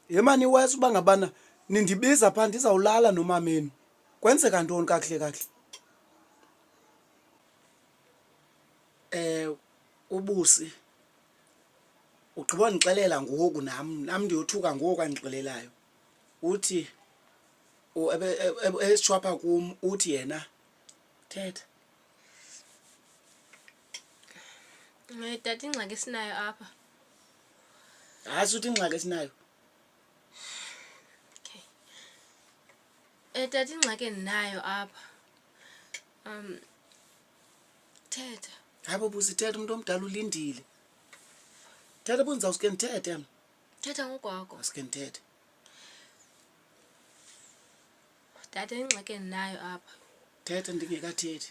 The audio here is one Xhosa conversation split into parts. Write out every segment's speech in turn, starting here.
yemani iwesi uba ngabana nindibiza phaa ndizawulala nomamenu kwenzeka ntoni kakuhle kakuhle um ubusi ugqiba ndixelela ngoku nam nam ndiyothuka ngoku andixelelayo uthi esitshwapha kum uthi yena thetha Eh, tata ingxaki esinayo apha hayi suthi ingxaki esinayo okay eh, tata ingxaki endinayo apha um thetha hayi bobo sithetha umntu omdala ulindile thetha bunza usuke ndithethe mna thetha ngokwakho usuke ndithethe tata ingxaki endinayo apha thetha ndingekathethi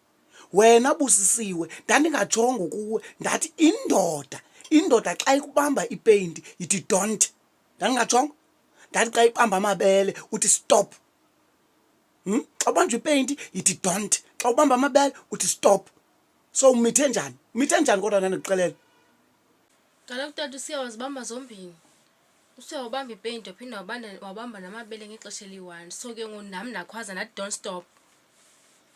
wena busisiwe ndandingajongo kuwe ndathi indoda indoda xa ikubamba ipeyinti yithi don't ndandingajongo ndathi xa ibamba amabele uthi stop hmm? xa ubanjwa ipeyinti yithi don't xa ubamba amabele uthi stop so umithe njani umithe njani kodwa ndandikuxelela kaloku tata usiya wazibamba zombini usiya wabamba ipeyinti waphinde wabamba namabele ngexesha eliyi-one so ke ngoku nam ndakhwaza ndathi don't stop